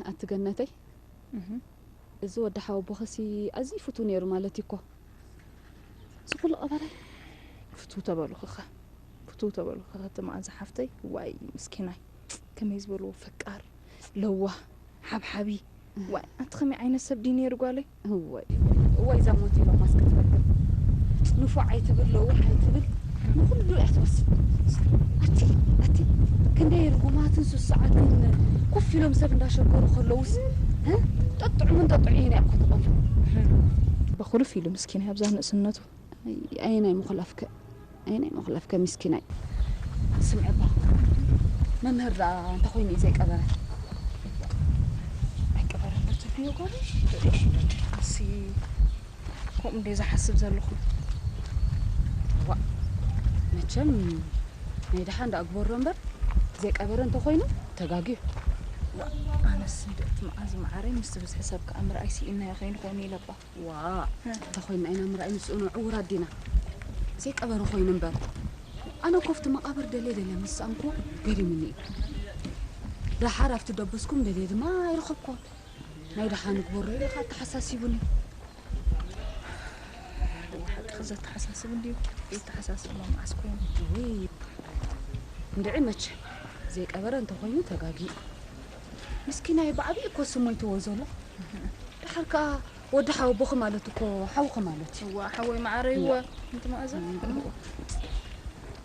ኣንቲ ገነተይ እዚ ወዲ ሓወቦኸሲ ኣዝዩ ፍቱ ነይሩ ማለት እዩ እኮ እዚ ኩሉ ቀበራይ ፍቱ ተበልኹኸ ፍቱ ተበልኹኸ እቲ መዓዛ ሓፍተይ ዋይ ምስኪናይ ከመይ ዝበልዎ ፈቃር ለዋህ ሓብሓቢ ዋይ ኣንቲ ከመይ ዓይነት ሰብ ድዩ ነይሩ ጓለይ እወይ እወይ እዛ ሞት ኢሎም ማስክ ትረክብ ንፉዕ ኣይትብል ለውሕ ኣይትብል ንኩሉ እያ ትወስድ ኣቲ ኣቲ ክንደይ ርጉማትን ስሱዓትን ኮፍ ኢሎም ሰብ እንዳሸገሩ ከለውስ ጠጥዑምን ጠጥዑ ኢና እኮ ትቐሉ በኹሉ ፊሉ ምስኪና ኣብዛ ንእስነቱ ኣየናይ ምኹላፍከ ኣየናይ ምኹላፍከ ምስኪናይ ስምዒ እባ መምህር ደኣ እንተኾይኑ እዩ ዘይቀበረ ኣይቀበረ ተትብዮ ጋር ኣሲ ከምኡ እንደ ዝሓስብ ዘለኹ ዋ መቸም ናይ ድሓ እንዳ ግበሮ እምበር ዘይቀበረ እንተኾይኑ ተጋግዩ ኣነስ እንደ እቲ መዓዝ መዓረይ ምስ ብዝሒ ሰብ ከዓ ምርኣይ ስኢናዮ ከይንኾይኑ ኢለባ ዋእ እንተኾይና ኢና ምርኣይ ምስኡኖ ዕውራት ዲና ዘይቀበሩ ኮይኑ እምበር ኣነ ኮፍቲ መቓብር ደልየ ደልየ ምስ ሰኣንኩ ገሪሙኒ እዩ ደሓር ኣብቲ ደበስኩም ደልየ ድማ ኣይረኸብኩዎን ናይ ደሓ ንግበሮ ኢለ ኸ ኣተሓሳሲቡኒ ሓቂ ዘተሓሳስብ እንድዩ የተሓሳስብ ሎ መዓስ ኮይኑ እንድዒ መቸ ዘይቀበረ እንተኮይኑ ተጋጊ ምስኪናይ ብዓብዪ እኮ ስሙ ይትዎ ዘሎ ድሓር ከዓ ወዲ ሓወቦኺ ማለት እኮ ሓውኺ ማለት እዩ እዋ ሓወይ መዓረይ እወ እንቲ መኣዛ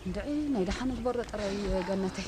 እንድዒ ናይ ደሓን እግበሮ ጥራይ ገነተይ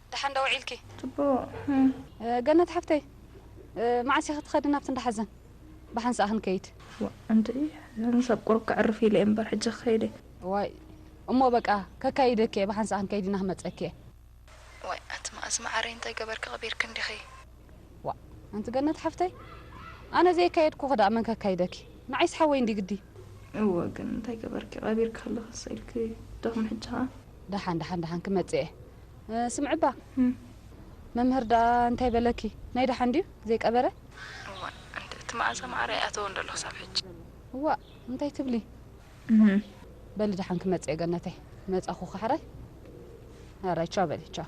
ደሓን ዶ ውዒልኪ? ጽቡቕ። ገነት ሓፍተይ መዓስ ኢኺ ትኸዲ ናብቲ እንዳ ሓዘን? ብሓንሳእ ክንከይድ። ዋእ ኣንቱ'የ እዘን ሰብ ቁሩብ ከዕርፍ ኢለ'የ እምበር ሕጂ ክኸይድ'የ። እዋይ እሞ በቃ ከካይደኪ'የ ብሓንሳእ ክንከይድ ኢና ክመጸኪ'የ። ዋይ ኣቲ መኣዝ መዓረይ እንታይ ገበርኪ ቀቢርኪ እንዲኺ። ዋእ ኣንቲ ገነት ሓፍተይ ኣነ ዘየካየድኩኺ ደኣ መን ከካይደኪ ንዓይስ ሓወይ እንድዩ ግዲ። እወ ግን እንታይ ገበርኪ ቀቢርኪ ከለኺ እሰይ ኢልኪ ዶኽመ ሕጂ ከኣ። ደሓን ደሓን ደሓን ክመጽእ እየ ስምዕባ መምህር ደኣ እንታይ በለኪ ናይ ደሓን ድዩ ዘይቀበረ። እዋእ እንተ እቲ መኣዛ ማዓረ ኣይኣተወን ዶ ኣሎ ክሳብ ሕጂ። እዋእ እንታይ ትብሊ እህ። በሊ ደሓን ክመጽእ እየ ገነተይ መጻኹ ካሕራይ ሃራይ ቻው በሊ ቻው።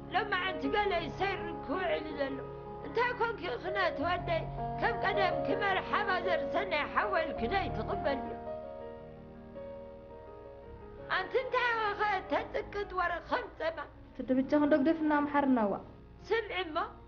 ሎማዓንቲ ገለ እዩ ሰይሩ ክውዕል ዘሎ እንታይ ኮንኪ ክነ ትወደይ ከም ቀደም ክመር ሓባ ዘርሰናይ ሓወል ክደይ ትቕበል እዩ ኣንቲ እንታይ ወኸ ተፅቅጥ ወረ ከም ፀማ ትድብጃ ክንዶግደፍና ኣምሓርና ዋእ ስምዒ እሞ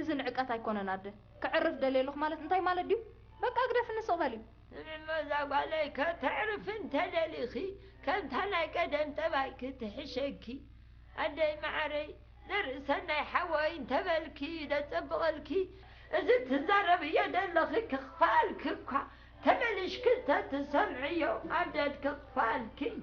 እዚ ንዕቀት ኣይኮነን ኣደ ከዕርፍ ደልየ ኣለኹ ማለት እንታይ ማለት ድዩ በቃ ግደፍኒ ስቕ በሊ። እሞ እዛ ጓለይ ከተዕርፊ እንተደሊኺ ከምታ ናይ ቀደም ጠባይኪ ትሕሸኪ ኣደይ መዓረይ ዘርእሰናይ ሓወይ እንተበልኪ እዩ ደጸብቐልኪ እዚ ትዛረብዮ ደለኺ ክኽፋኣልኪ እኳ ተመሊሽኪ እንተትሰምዕዮ ኣደድ ክኽፋኣልኪ እዩ።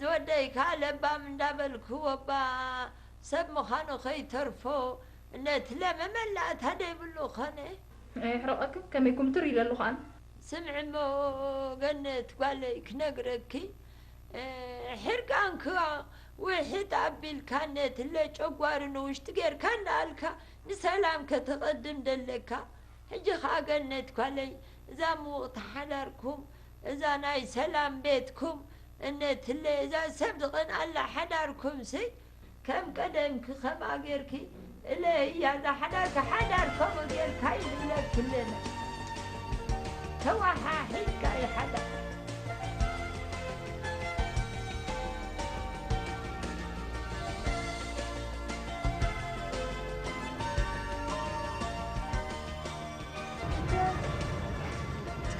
ዝወደይ ከኣ ለባም እንዳበልክዎ'ባ ሰብ ምዃኑ ከይተርፎ ነቲ ለመመላ እታ ደይብሉ ኮነ። የሕርቐክን ከመይ ኩምትር ኢለሉ ከኣ። ስምዒ'ሞ ገነት ጓለይ ክነግረኪ፣ ሕርቃንኪ ውሕጥ ኣቢልካ ነቲ ለጨጓሪ ንውሽጢ ጌርካ እንዳኣልካ ንሰላም ከተቐድም ደለካ። ሕጂ ከኣ ገነት ጓለይ እዛ ምውቕቲ ሓዳርኩም፣ እዛ ናይ ሰላም ቤትኩም እነትለይ እዛ ሰብ ትቀንኣላ ሓዳርኩምሲ ከም ቀደምኪ ከምኣ ጌርኪ እለይያ እዛ ሓዳርኪ ሓዳር ከምኡ ጌርካ እዩ ዝብለኪ ኣለና ተዋሓሒድካ እዩ ሓዳር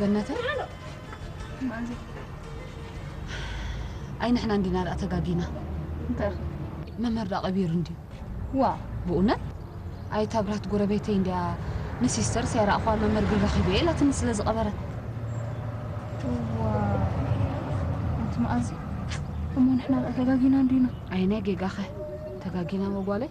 ገነተ ኣይ ንሕና እንዲና ደኣ ተጋጊና እንታይ ኸ መምህር ደኣ ቀቢሩ እንድዩ ዋ ብእውነት ኣይ እታ ብርሃት ጎረቤተይ እንድያ ንሲስተር ሰይራ እኳ መምህር ግን ረኺበ ኢላትኒ ስለ ዝቐበረ ዋ ኣንቲ መኣዚ እሞ ንሕና ደኣ ተጋጊና እንዲና ኣይ ናይ ጌጋኸ ተጋጊና መጓለይ